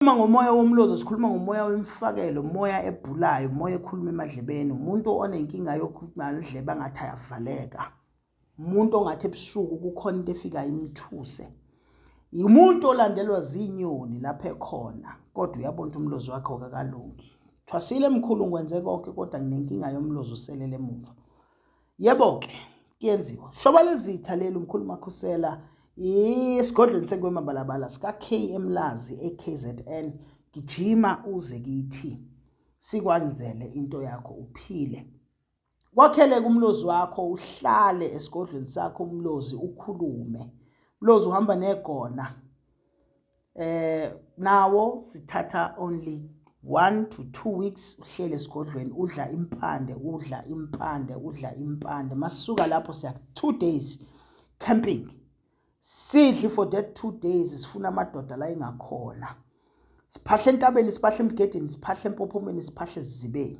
Uma ngomoya womlozo sikhuluma ngomoya wemfakelo, umoya ebhulayo, umoya ekhuluma emadlebeni, umuntu onenkinga yokukhuluma idlebe angathi ayavaleka. Umuntu ongathi ebusuku kukhona into efika imthuse. Umuntu olandelwa zinyoni lapha ekhona kodwa uyabona umlozo wakhe okakalungi. Thwasile mkhulu ngwenze konke kodwa nginenkinga yomlozo selele emuva. yebo ke kuyenziwa shoba lezitha leli umkhulu makhusela isigodlweni sekwemabalabala sika-k emlazi e-kzn gijima uze kithi sikwenzele into yakho uphile kwakhele kumlozi wakho uhlale esigodlweni sakho umlozi ukhulume mlozi uhamba negona eh nawo sithatha only 1 to 2 weeks uhlele esigodlweni udla impande udla impande udla impande masuka lapho siya 2 days camping sidli for that 2 days sifuna amadoda la ingakhona siphahle entabeni siphahle emgedeni siphahle empophomeni siphahle ezibeni